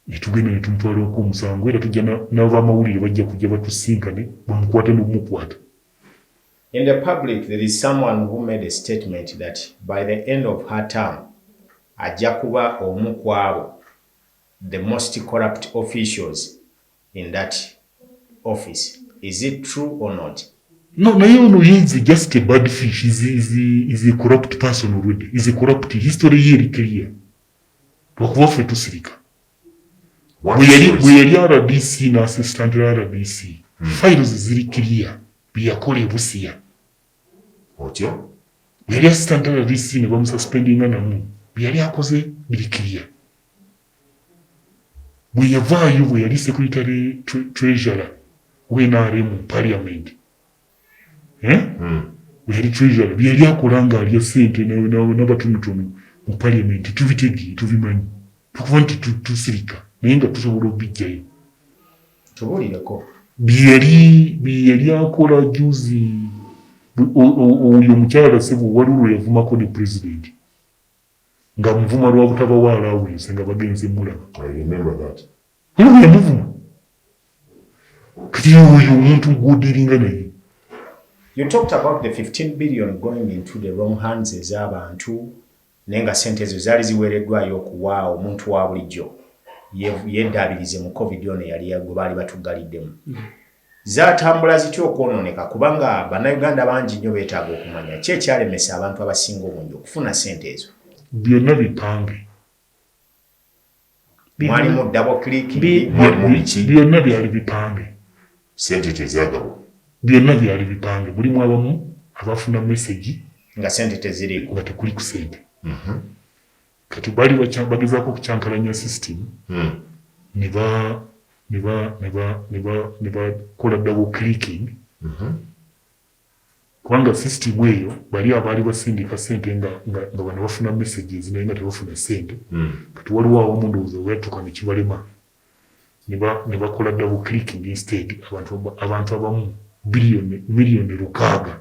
gyetugenda netumutwalirako omusango era tujja nabamawulire bajja kujja batusinkane bamukwate nokumukwata. In the public there is someone who made a statement that by the end of her term ajja kuba omu kwabo the most corrupt officials in that office is it true or not? No, naye ono he is just a bad fish is, is, is a corrupt person already is a corrupt history ye eri clear lwakuba ffe tusirika bwe yali rdc na assistant rdc hmm. files ziri clear byeyakola ebusiya otyo bwe yali assistant rdc ne bamususpendinga namu bye yali akoze biri clear bwe yavaayo bwe yali secretary treasurer we NRM mu parliament eh? hmm. bwe yali treasurer bye yali akola nga alya sente n'abatonotono mu parliament tubitegeere tubimanyi tukuba nti tusirika naye nga tusobola okubijjayo tubuulireko byeyali akola juzi oyo omukyala sebo waliwo lwe yavumako ne pulezidenti nga muvuma lwa butabawa allowance nga bagenze mulaba era yamuvuma kati oyo omuntu gwodiringa naye You talked about the 15 billion going into the wrong hands ez'abantu naye nga sente ezo zaali ziweereddwayo okuwa omuntu wa bulijjo yeddaabirize mu covid ono yali gwe baali batuggaliddemu Zaatambula zitya okwonooneka kuba nga Bannayuganda bangi nnyo beetaaga okumanya ki ekyalemesa abantu abasinga obungi okufuna ssente ezo. Byonna bipange. Mwalimu double clicking, mwalimu biki? Byonna byali bipange. Ssente tezaagabwa. Byonna byali bipange. Mulimu abamu abafuna mesegi. Nga ssente teziriiko. Nga tekuli ku ssente. Mhm. Kati bali bagezako kukyankalanya system hmm. nebakola double clicking mhm. kubanga system eyo bali abaali basindika sente nga bano bafuna messages naye nga tebafuna sente hmm. kati waliwo awamu ndowooza weyatuka nekibalema nebakola double clicking instead abantu abamu miliyoni lukaaga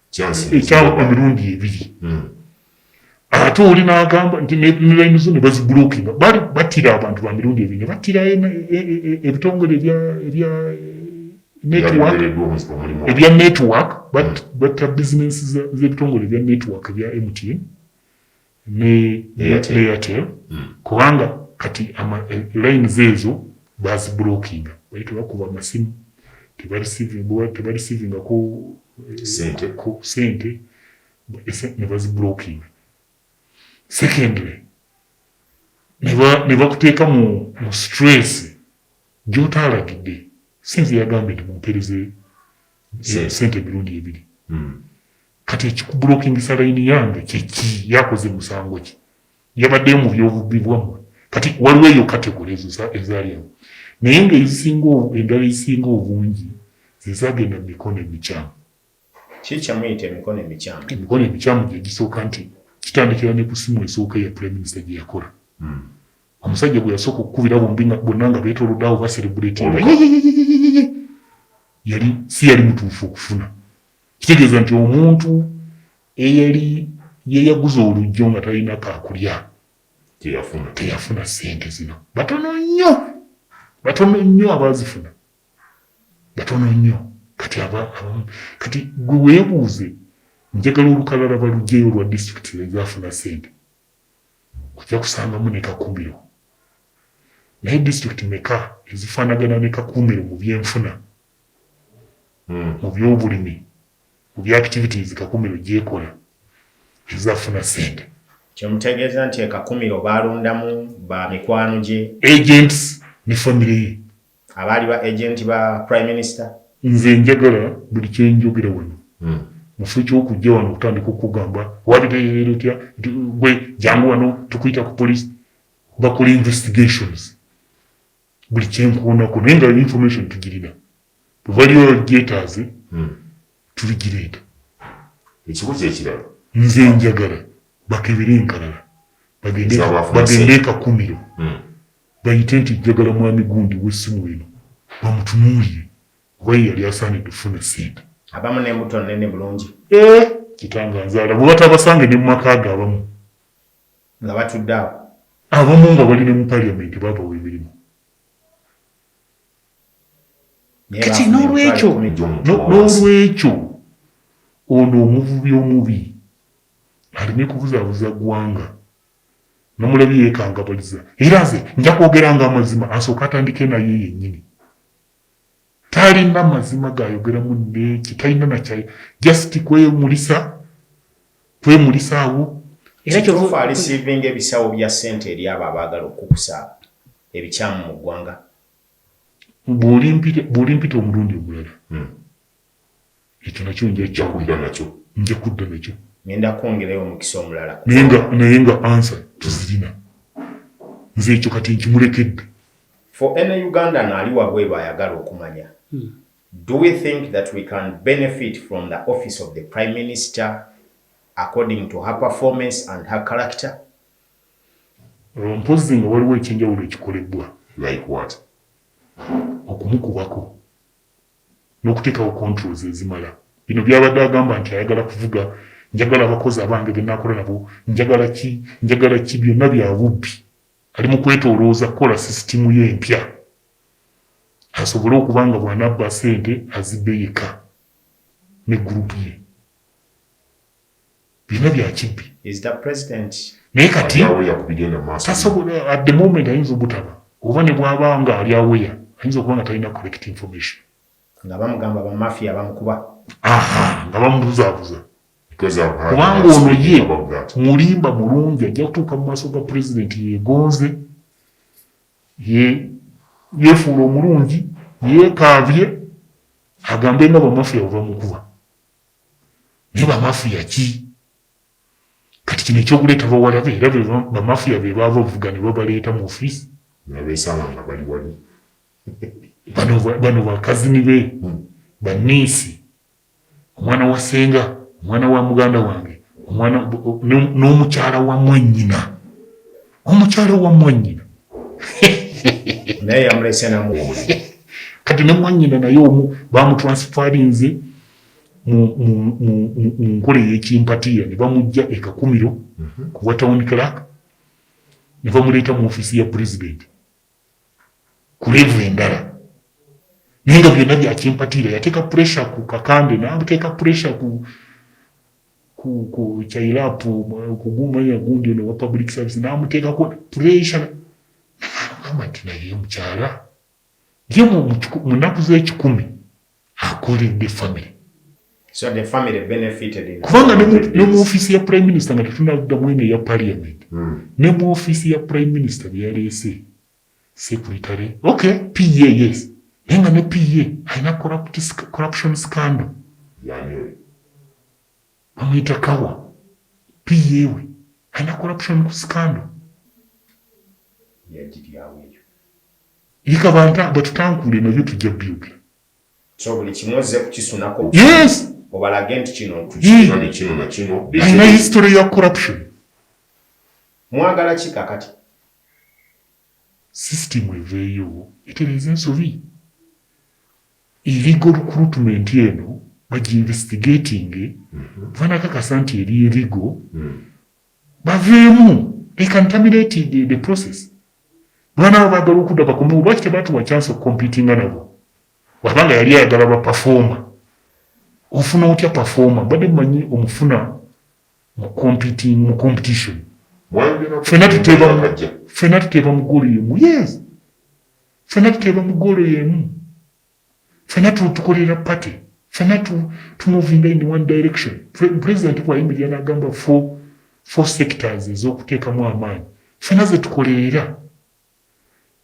ekyawa emirundi ebiri hmm. ate oli nagamba nti nelaini zo nebazibulokinga bali batira abantu ba mirundi ebiri nebatira e, e, e, ebitongole ebya network ebya network hmm. batta bizinesi zebitongole ebya network ebya mtn ne Airtel kubanga kati lines ezo bazibulokinga bali tebakuba masimu tebarisivingako sente nebazibulokinga secondly nebakuteeka mu stress gyotaalagidde sinze yagambye nti mumpereze sente emirundi ebiri hmm. Kati ekikuburokingisa line yange kyeki yakoze musango ki yabaddeyo mu byobubbi bwammwe kati waliwo eyo kategole ezo ezalyamu naye nga ezisinga endala ezisinga obungi zezagenda mu mikono emikyamu kikyamuyita emikono emikyamu emikono emikyamu gyegisooka nti kitandikira ne ku simu esooka eya prime minister gye yakola hmm. omusajja gwe yasooka okukubira bombi bonna nga betolodde awo baserebuletinga yali si yali mutuufu okufuna kitegeeza nti omuntu eyali yeyaguza olujjo nga talina kakulya teyafuna teyafuna sente zino batono nnyo batono nnyo abazifuna batono nnyo kati abamu kati gwe weebuuze njagala olukalala balugyeyo olwa disitulikiti lwezafuna sente ojja kusangamu ne kakumiro naye disitulikiti meka ezifaanagana ne kakumiro mu byenfuna mu by'obulimi ku bya activities Kakumiro gyekola ezafuna ssente. Kyemutegeeza nti e Kakumiro baalondamu ba mikwano gye? Agents ne famire ye. Abaali ba agent ba Prime Minister? Nze njagala buli kyenjogera wano mufo kyokujja wano okutandika okugamba wabitegeera otya nti gwe jangu wano tukuyita ku police bakole investigations buli kyenkoonako naye nga information tugirina bwebaliwo gyetaaze hmm. tuligireeta ekibuzo ekirala nze njagala bakebere enkalala bagende ekakumiro hmm. bayite nti njagala mwami gundi wesimu eno bamutunuulire kuba ye yali asaanidde okufuna sente abamu nemuto nene bulungi eh, kitanga nzaala bwebatabasange ne mumaka ge abamu nga batudde awo. Abamu nga bali ne mu parliament babawa emirimu. Kati n'olwekyo n'olwekyo ono omuvubi omubi aleme kubuzabuza gwanga namulabi yekangabaliza era nze nja kwogera nga amazima asooka atandike naye yenyini Talina mazima gayogeramu neki talina nakyayi just kwemulisa kwemulisa awo era kyofa alisivinga ebisawo bya sente eri abo abaagala okukusa ebikyamu mu ggwanga bw'olimpita omulundi omulala hmm. Ekyo nakyo njajja kudda nakyo. Nja kudda nakyo. Ngenda kwongerayo omukisa omulala ku. Naye nga, naye nga answer tuzirina. Nze ekyo kati nkimulekedde. For any Ugandan ali wabweru ayagala okumanya. Hmm. Do we think that we can benefit from the office of the Prime Minister according to her performance and her character? Mpozzi nga waliwo ekyenjawulo ekikolebbwa. Like what? Okumukubako. n'okuteekawo controls ezimala. Bino byabadde agamba nti ayagala kuvuga, njagala abakozi abange be naakola nabo, njagala ki, njagala ki byonna bya bubbi. Ali mu kwetoolooza kukola sisitimu ye empya asobole okuba nga bw'anabba ssente azibbe yekka ne group ye. byonna byakibbi naye kati tasobola at the moment ayinza obutaba oba ne bwaba nga ali aweya ayinza okuba nga talina correct information nga bamugamba bamafia bamukuba nga bamubuzabuza kubanga ono ye mulimba mulungi ajja kutuuka mu maaso ga pulezidenti yegonze yefuula omulungi yekaabye agambe nga bamafia bwebamukuba naye bamafiya ki kati kino ekyokuleeta bawalabe era bamafiya be baava obuvuga ne babaleeta mu ofiisi nebabesanga nga bali wali bano bakazini be hmm. baniisi omwana wa senga omwana wa muganda wange omwana n'omukyala wa mwanyina omukyala wa mwanyina naye yamulese namu kati ne mwanyina naye omu bamutransfarinze mu nkola ey'ekimpatiira ne bamuggya e Kakumiro mhm. ku bwa town clerk ne bamuleeta mu ofiisi ya pulezidenti ku leevu endala naye nga byonna bya kimpatiira yateeka puresha ku kakande n'ateeka puresha ku ku chairapu kugumanya gundi ono wa public service n'amuteekako puresha agamba nti naye mukyala Ye mu nnaku z'ekikumi akuulidde famire. So the family benefited in kubanga ne mu offiisi ya prime minister nga tetunaddamu eno eya parliament hmm. ne mu offiisi ya prime minister bye yaleese secretary okay pa yes naye nga ne pa alina corruption scandal bamuyita kawa pa we alina corruption scandal Lika banta batutankule nabyo tujja byogera. So buli kimu ozze kukisunako. Yes. Obalage nti kino tukino ne kino na kino. Alina history ya corruption. Mwagala ki kakati? System eveeyo etereza ensobi. Illegal recruitment eno bagi investigating. Mm -hmm. Vanakakasa nti eri illegal. Mm -hmm. Baveemu they can terminate the, the process. Bwana bagala okuda bakomewo lwaki tebatuwa chance of competinga nabo wabanga yali ayagala ba performer ofuna otya performer bade manyi omufuna mu competing mu competition fena tuteba fena tuteba mugulu yemu yes fena tuteba mugulu yemu fena tukolera party fena tumovinga in one direction president bwayimirira nagamba four, four sectors ezokuteekamu amaanyi fena zetukoleera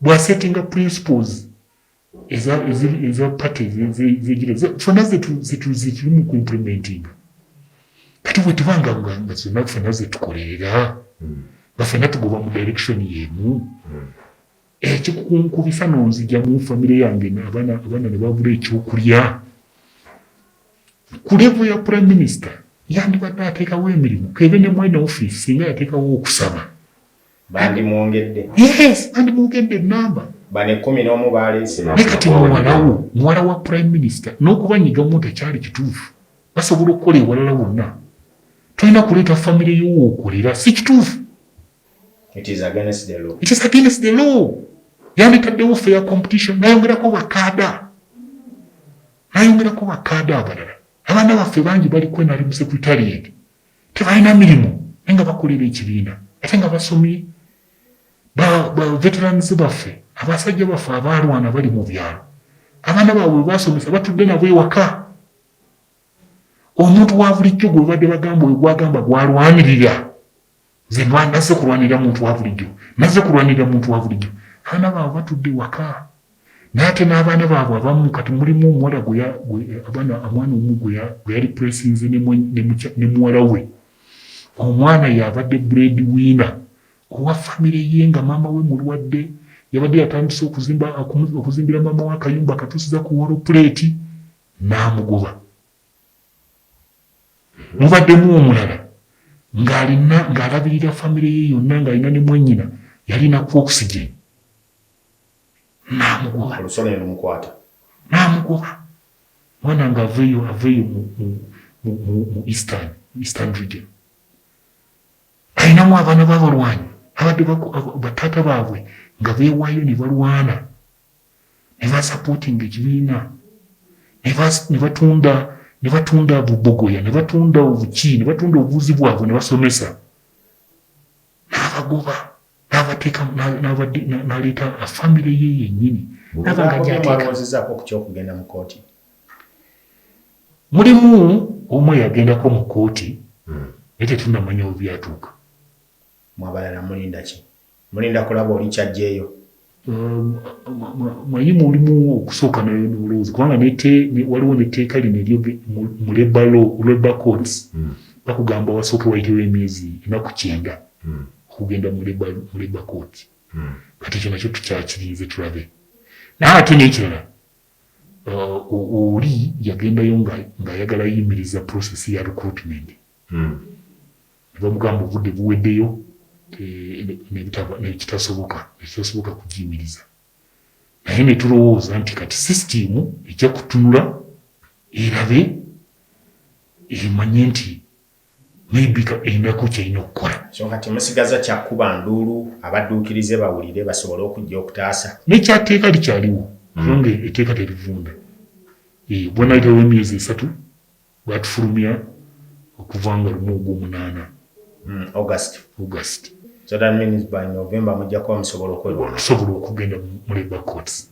bwasettinga principles eza party zegira fena zetuli mu kuimplementinga kati bwetubanga nga zonna fena zetukoleera nga fena tugoba mu direction yemu hmm. ekikunkubisa nonzija mu famire yange abaana abaana ne babula ekyokulya ku levu ya prime minister yandibadde ateekawo emirimu kebe ne mwene ofiisi singa yateekawo okusaba bandimwongedde yes bandimwongedde enamba banekumi n'omu baleese naye kati muwalawo muwala wa prime minister n'okubanyigamu tekyali kituufu basobola okukola ewalala wonna tolina kuleeta famire yowookolera si kituufu It is against the law. It is against the law. Yanditaddewo fair competition nayongerako bakaada nayongerako bakaada abalala abaana baffe bangi bali kwenali mu secretariat tebalina mirimu naye nga bakolera ekibiina ate nga basomye baveterans baffe abasajja baffe abaalwana bali mu byalo abaana baabwe webasomesa batudde nabo ewaka omuntu wa bulijjo gwe babadde bagamba oyo gwagamba gwalwanirira nze nazze kulwanirira muntu wa bulijjo nazze kulwanirira muntu wa bulijjo abaana baabwe batudde waka naye ate n'abaana baabwe abamu kati mulimu omuwala abaana omwana omu gwe yali puresinze ne muwala we omwana yabadde bread wina owa famire ye nga maama we mulwadde yabadde yatandise okuzimbira maama we akayumba akatusiza ku wolo puleeti n'amugoba Mubaddemu omulala ng'alina ng'alabirira famire ye yonna ng'alina ne mwannyina yalina ku oxygen n'amugoba n'amugoba mwana ng'aveeyo aveeyo mu eastern eastern region alinamu abaana b'abalwanyi abadde bataata baabwe nga beewaayo ne balwana nebasupportinga ekibiina nebatunda nebatunda bubogoya nebatunda obuki nebatunda obuvuzi bwabwe nebasomesa nabagoba nabateeka naleeta afamire ye yenyini okugenda mu kooti mulimu omu eyagendako mu kooti hmm. naye tetunamanya obyatuuka mwabalala mulindaki Mulinda kulaba oli kyajjeeyo. Manyi mulimu okusooka nolowooza kubanga waliwo netteeka lino eryo mu labor law, labor courts hmm. bakugamba wasooke wayitewo emyezi enaku kyenda hmm. okugenda mu labor court hmm. kati ekyo nakyo tukyakirinze tulabe naye ate nekirala uh, oli yagendayo ng'ayagala yimiriza process ya recruitment ne bamugamba obudde buweddeyo nekitasoboka nekitasoboka kugiyimiriza naye ne tulowooza nti kati sisitiimu ejja kutunula erabe emanye nti maybe enako kyalina okukola kyonka temusigaza kyakuba nduulu abadduukirize bawulire basobole okujja okutaasa nekyateeka likyaliwo kubanga eteeka terivunda bwanayitawo emyezi esatu Baatufulumya okuva nga lumu Ogwomunaana, August. August. So that means by November mujja kuba musobola okwewala. Okusobola okugenda mu Labour Courts.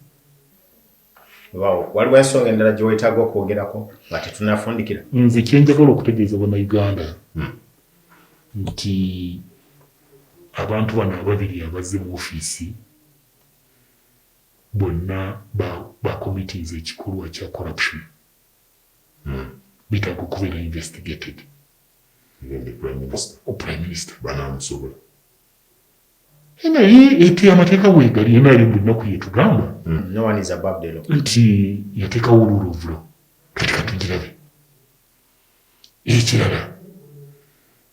Weewaawo. Waliwo ensonga endala gye weetaaga okwogerako nga tetunnafundikira? Nze kye njagala okutegeeza Bannayuganda nti abantu bano ababiri abazze mu ofiisi bonna ba, ba committinze ekikolwa kya corruption. Betaaga okubeera investigated. Even the prime minister. O prime minister. Banaamusobola. Eh, naye ete amateeka weegali nrm buli nnaku yetugamba hmm. nti yateekawo olwolovulo kati katugirabe ekirala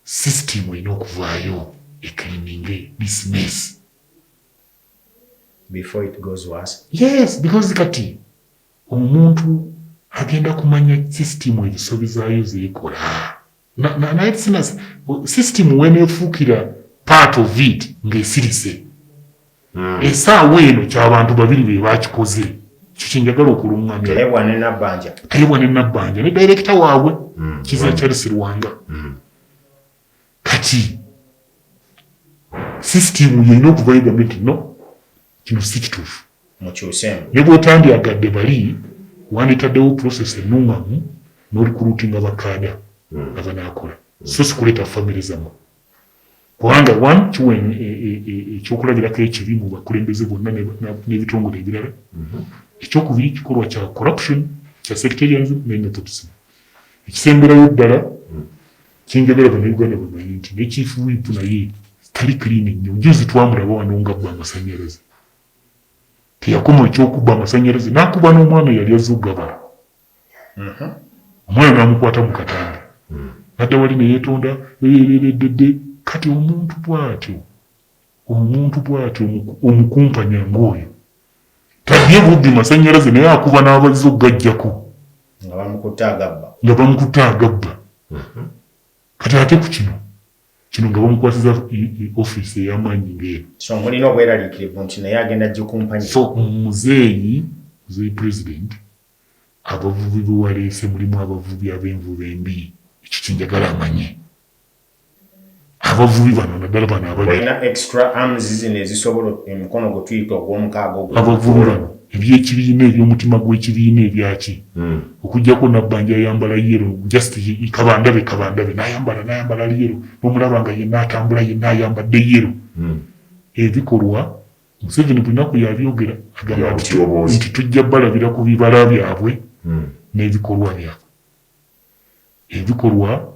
sisitimu erina okuvaayo eklininge dismiss before it goes worse yes because kati Omuntu agenda kumanya system ezisobi zaayo zekola naye sina system wenefuukira part of it ng'esirise hmm. esaawa eno kyabantu babiri be bakikoze kyo kyenjagala okulungamya tayebwa ne nabbanja ne dayirekita waabwe hmm. kiza charles rwanga hmm. Kati system yelina okuvayo egambe nti no kino si kituufu ne bwotandyagadde bali wanditaddewo process enungamu nolikulutinga bakaada hmm. abanakola so sikuleeta famire zamwe kubanga one kiwa e, e, e, ekyokulabirako ekibi mu bakulembeze bonna n'ebitongole ebirala hmm. ekyokubiri kikolwa kya corruption kya sectarianism ne methodism ekisemberayo ddala hmm. Kyenjagala bannayuganda bamanye nti ne Chief Whip naye tali clean nnyo. Njuuzi twamulaba wano ngabba amasanyalaze. Teyakoma ekyokubba amasanyalaze nakuba n'omwana eyali azze okugabala. Omwana namukwata mu katambi nadda wali neyetonda ererereddedde. Kati omuntu bwatyo omuntu bwatyo omukumpanya ng'oyo Tadye bubbi masanyalaze naye akuba n'abazze okugajjako nga bamukutte agabba nga bamukutte agabba mhm. kati ate ku kino kino nga bamukwasiza ofiisi ey'amaanyi ng'eyo so mulina obweraliikirivu nti naye agenda gikumpanya so muzeeyi muzeeyi pulezidenti abavubi bewaleese mulimu abavubi ab'envuba embi ekyo kyenjagala amanye abavubi bano naddala bano abalina extra arms zino ezisobola omukono gwe tuyita ogw'omukaaga ogwo abavubi bano eby'ekibiina eby'omutima gw'ekibiina ebyaki hmm. okujjako nabbanja ayambala yero just kabandabe kabandabe nayambala nayambala ali yero nomulaba nga yenna atambula yenna ayambadde yero hmm. ebikolwa museveni bunaku yabyogera agamba nti tujja balabira ku bibala byabwe hmm. n'ebikolwa byabwe Ebikolwa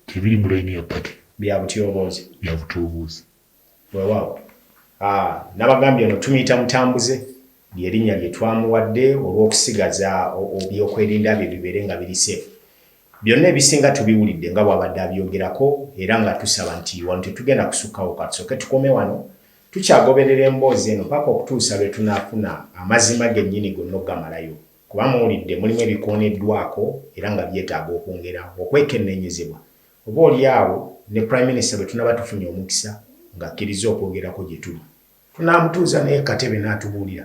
tebiri mu layini ya party. Bya butyoboozi. Bya butyoboozi. Weewaawo. Haa, nabagambye ono tumuyita Mutambuze, lye linnya lye twamuwadde olw'okusigaza obyokwerinda bye bibeere nga biri safe. Byonna ebisinga tubiwulidde nga bw'abadde abyogerako era nga tusaba nti wano tetugenda kusukkawo ka tusooke tukome wano. Tukyagoberera emboozi eno paka okutuusa lwe tunaafuna amazima gennyini gonna okugamalayo. Kuba muwulidde mulimu ebikooneddwako era nga byetaaga okwongera okwekenneenyezebwa, oba oli awo ne Prime Minister bwe tunaaba tufunye omukisa ng'akkirizza okwogerako gye tuli, tunaamutuuza naye ku katebe n'atubuulira.